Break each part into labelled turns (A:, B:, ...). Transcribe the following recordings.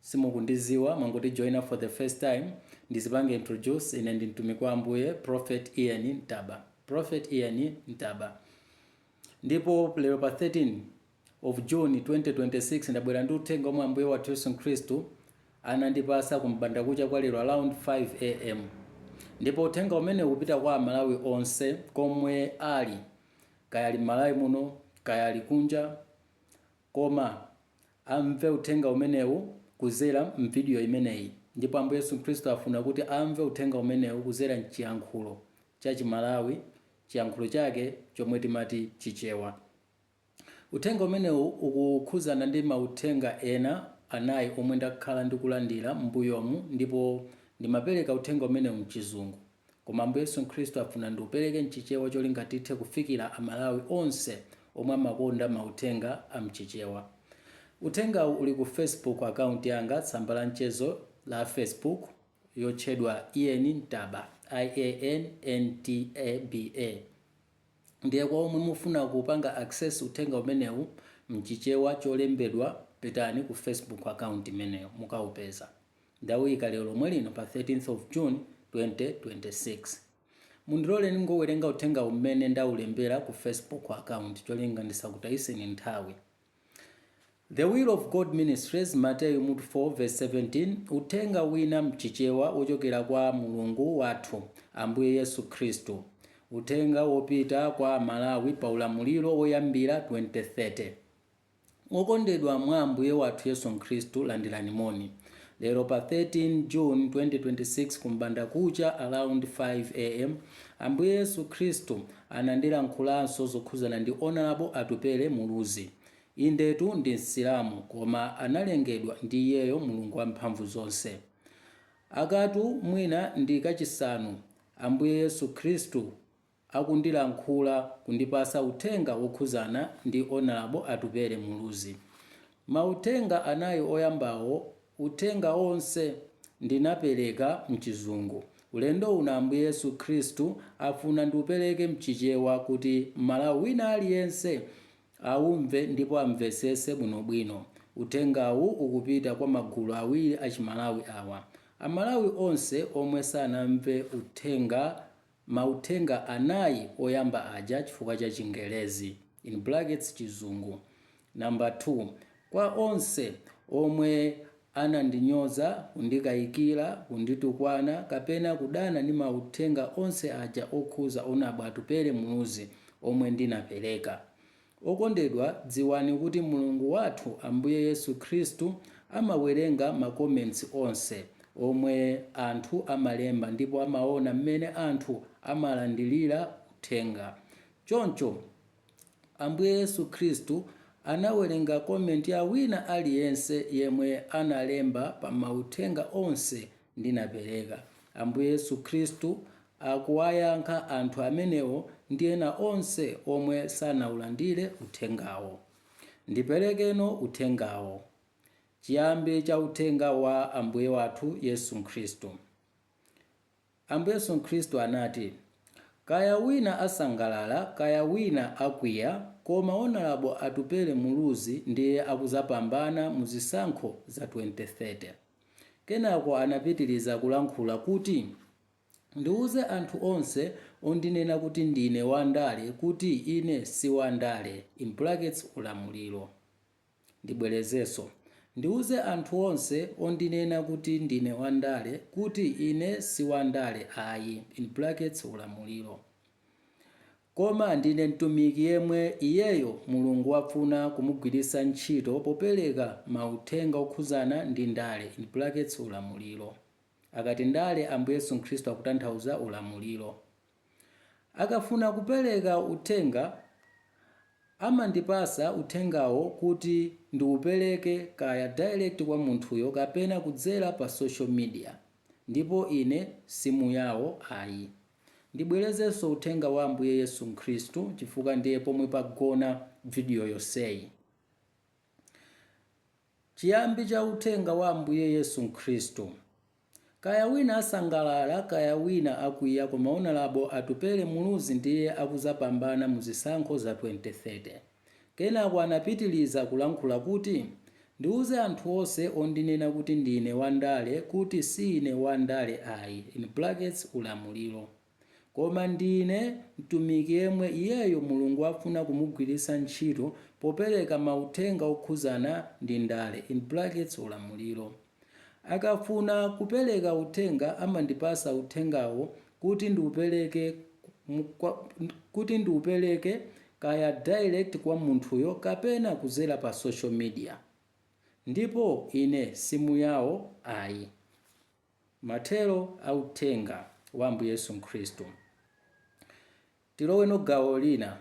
A: simukundiziwa mwangoti join for the first time, ndizipange introduce ine ndi mtumiki wa ambuye prophet ian ntaba prophet ian ntaba ndipo lero pa 13 of june 2026 ndabwera ndi uthenga omwe ambuye wathu yesu khristu anandipasa kumbanda kucha kwa lero around 5 am ndipo uthenga umenewu ukupita kwa amalawi onse komwe ali kaya ali m'malawi muno kaya ali kunja Koma, amve Uthenga umenewu kuzera m'vidiyo imeneyi. Ndipo Ambuye Yesu Khristu afuna kuti amve Uthenga umenewu kuzera m'chiyankhulo cha Chimalawi, chiyankhulo chake chomwe timati Chichewa. Uthenga umenewu ukukhuzana ndi mauthenga ena anayi omwe ndakhala ndikulandira m'mbuyomu ndipo ndimapereka uthenga umenewu m'chizungu. Koma Ambuye Yesu Khristu afuna ndiupereke mchichewa cholinga tithe kufikira Amalawi onse omwe amakonda mauthenga a mchichewa. Uthengawu uli ku Facebook account yanga, tsamba la mchezo la Facebook, yotchedwa Ian Ntaba, I-a-n-n-t-a-b-a. Ndiye kwa omwe mufuna kupanga access uthenga umenewu mchichewa cholembedwa pitani ku Facebook account imeneyo mukaupeza. Ndawuyika lero lomwe lino pa 13th of June 2026. Mundilore ndingowerenga uthengawu mmene ndawulembera ku Facebook account cholinga ndisakutayiseni nthawi. The Will of God Ministries Matthew 4 verse 17 Uthenga wina mchichewa wochokera kwa Mulungu wathu, Ambuye Yesu Khristu. Uthenga wopita kwa Amalawi pa ulamuliro woyambira 2030. Okondedwa mwa Ambuye wathu Yesu Khristu, landirani moni. Lero pa 13 June 2026 kum'bandakucha around 5 am Ambuye Yesu Khristu anandilankhulanso zokhuzana ndi Honourable Atupele Muluzi. Indetu ndi Msilamu koma analengedwa ndi iyeyo Mulungu wamphamvu zonse. Akatu mwina ndi kachisanu Ambuye Yesu Khristu. akundilankhula kundipasa uthenga wokhuzana ndi Honourable Atupele Muluzi. Mauthenga anayi oyambawo uthenga onse ndinapereka mchizungu. Ulendo uno Ambuye Yesu Khristu afuna ndiupereke mchichewa kuti Mmalawi wina aliyense aumve ndipo amvesese bwinobwino. Uthengawu ukupita kwa magulu awiri achiMalawi awa. Amalawi onse omwe sanamve uthenga. mauthenga anayi oyamba aja chifukwa cha Chingelezi, in brackets Chizungu. Number 2, kwa onse omwe anandinyoza, kundikayikira, kunditukwana kapena kudana ndi mauthenga onse aja okhuza Honourable Atupele Muluzi omwe ndinapereka. Okondedwa dziwani kuti Mulungu wathu Ambuye Yesu Khristu amawerenga ma comments onse omwe anthu amalemba ndipo amaona mmene anthu amalandilira uthenga. Choncho Ambuye Yesu Khristu anawerenga comment ya wina aliyense yemwe analemba pa mauthenga onse ndinapereka. Ambuye Yesu Khristu akuwayankha anthu amenewo ndi ena onse omwe sanaulandire uthengawo. Ndiperekeno uthengawo. Chiyambi cha uthenga wa Ambuye wathu Yesu Khristu. Ambuye Yesu Khristu anati, Kaya wina asangalala kaya wina akwiya, koma Honorable Atupele Muluzi ndiye akuzapambana mu zisankho za 2030. Kenako anapitiriza kulankhula kuti, Ndiuze anthu onse ondinena kuti ndine wandale kuti ine si wandale, in brackets ulamuliro. Ndibwerezenso, Ndiuze anthu onse ondinena kuti ndine wandale kuti ine si wandale ayi, in brackets ulamuliro. Koma ndine mtumiki yemwe iyeyo Mulungu wafuna kumugwiritsa ntchito popereka mauthenga okhudzana ndi ndale, in brackets ulamuliro. Akati ndale Ambuye Yesu Khristu akutanthauza ulamuliro. Akafuna kupereka uthenga amandipasa uthengawo kuti ndiupereke kaya direct kwa munthuyo kapena kudzera pa social media. Ndipo ine si muyawo ayi. Ndibwelezenso uthenga wa Ambuye Yesu Khristu chifukwa ndiye pomwe pagona video yonseyi. Chiyambi cha uthenga wa Ambuye Yesu Khristu. Kaya wina asangalala kaya wina akwiya koma Honorable Atupele Muluzi ndiye akuzapambana mu zisankho za 2030. Kenako anapitiriza kulankhula kuti, Ndiuze anthu onse ondinena kuti ndine wandale kuti si ine wandale ayi, in brackets ulamuliro, koma ndine mtumiki yemwe iyeyo Mulungu afuna kumugwiritsa ntchito popereka mauthenga okhudzana ndi ndale, in brackets ulamuliro. Akafuna kupeleka uthenga amandipasa uthengawo kuti ndiupeleke kaya direct kwa munthuyo kapena kuzera pa social media ndipo ine si muyawo ayi. Mathero a uthenga wa Ambuye Yesu Khristu. Tiloweno gawo lina.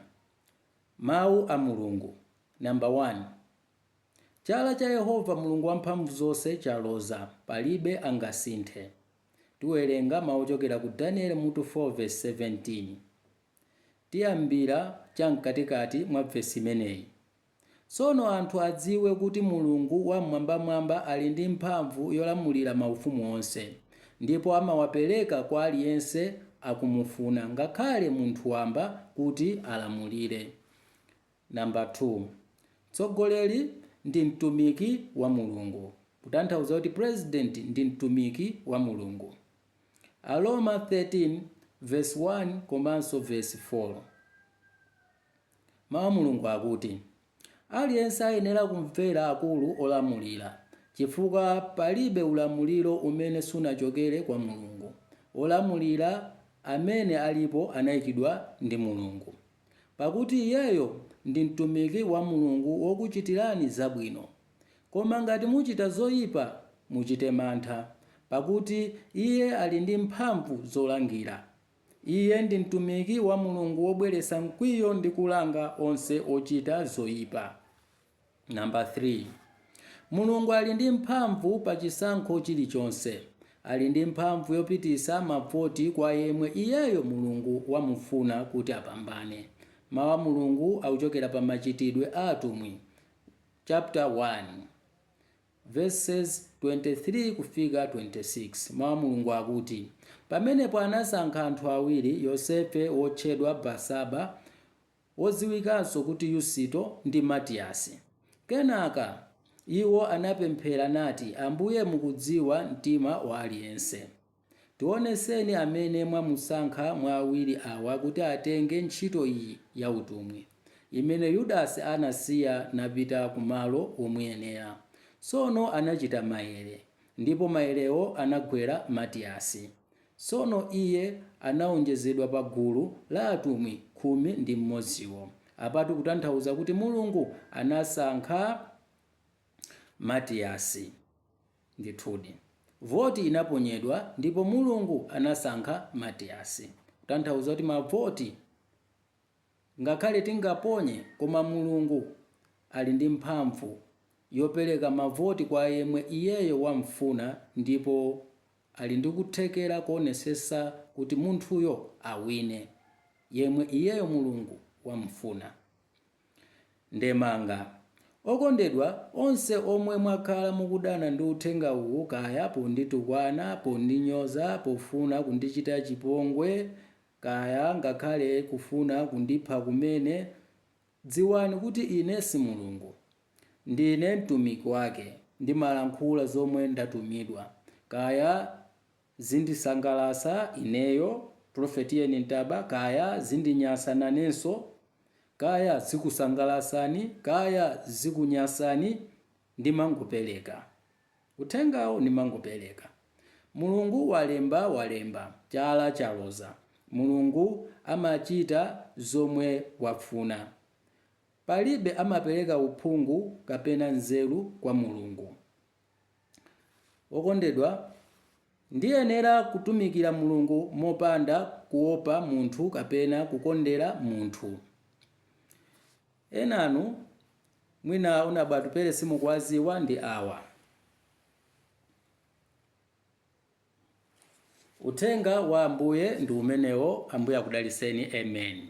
A: Mawu a Mulungu, number 1. Chala cha Yehova Mulungu Wamphamvuzonse chaloza, palibe angasinthe. Tiwerenga mawu ochokera ku Danieli mutu 4 vesi 17. Tiyambira cha mkatikati mwa vesi imeneyi. Tsono anthu adziwe kuti Mulungu Wam'mwambamwamba ali ndi mphamvu yolamulira maufumu onse, ndipo amawapereka kwa aliyense akumufuna, ngakhale munthu wamba kuti alamulire. Number 2, Mtsogoleri ndi mtumiki wa Mulungu, kutanthauza kuti president ndi mtumiki wa Mulungu. Aroma 13 verse 1 komanso verse 4. Mau a Mulungu akuti, Aliyense ayenera kumvera akulu olamulira, chifukwa palibe ulamuliro umene sunachokere kwa Mulungu. Olamulira amene alipo anaikidwa ndi Mulungu. Pakuti iyeyo ndi mtumiki wa Mulungu wokuchitirani zabwino. Koma ngati muchita zoipa, muchite mantha, pakuti iye ali ndi mphamvu zolangira. Iye ndi mtumiki wa Mulungu wobweretsa mkwiyo ndi kulanga onse ochita zoipa. Number 3, Mulungu ali ndi mphamvu pa chisankho chilichonse. Ali ndi mphamvu yopitisa ma voti kwa yemwe iyeyo Mulungu wamufuna kuti apambane. Mau a Mulungu akuchokera pa Machitidwe a Atumwi chapter 1 verses 23 kufika 26. Mau a Mulungu akuti, Pamenepo anasankha anthu awiri, Yosefe wotchedwa Barsaba, wodziwikanso kuti Yusito, ndi Matiyasi. Kenaka iwo anapemphera nati, Ambuye mukudziwa mtima wa aliyense. Tionetseni amene mwamusankha mwa awiri awa kuti atenge ntchito iyi ya utumwi, imene Yudasi anasiya napita ku malo womuyenera. Tsono anachita maere, ndipo maerewo anagwera Matiyasi. Tsono iye anaonjezedwa pa gulu la atumwi khumi ndi mmodziwo. Apatu kutanthauza kuti Mulungu anasankha Matiyasi. Ndithudi, voti inaponyedwa ndipo Mulungu anasankha Matiyasi. Kutanthauza kuti mavoti ngakhale tingaponye koma Mulungu ali ndi mphamvu yopereka mavoti kwa yemwe iyeyo wamfuna ndipo. ali ndi kuthekera koonetsetsa kuti munthuyo awine, yemwe iyeyo Mulungu wamfuna. Ndemanga, Okondedwa onse omwe mwakhala mukudana ndi uthenga uwu kaya ponditukwana, pondinyoza, pofuna kundichita chipongwe kaya ngakhale kufuna kundipha kumene, dziwani kuti ine si Mulungu. Ndine mtumiki wake, ndimalankhula zomwe ndatumidwa, kaya zindisangalasa ineyo prophet Ian Ntaba kaya zindinyasa nanenso, kaya zikusangalasani kaya zikunyasani ndimangopeleka uthengawo ndimangopeleka. Mulungu walemba walemba, chala chaloza, Mulungu amachita zomwe wafuna. Palibe amapereka uphungu kapena nzeru kwa Mulungu. Okondedwa, ndiyenera kutumikira Mulungu mopanda kuopa munthu kapena kukondera munthu. Enanu mwina Nabwatupele simukuwaziwa ndi awa. Uthenga wa Ambuye ndi umenewo Ambuye akudaliseni Amen.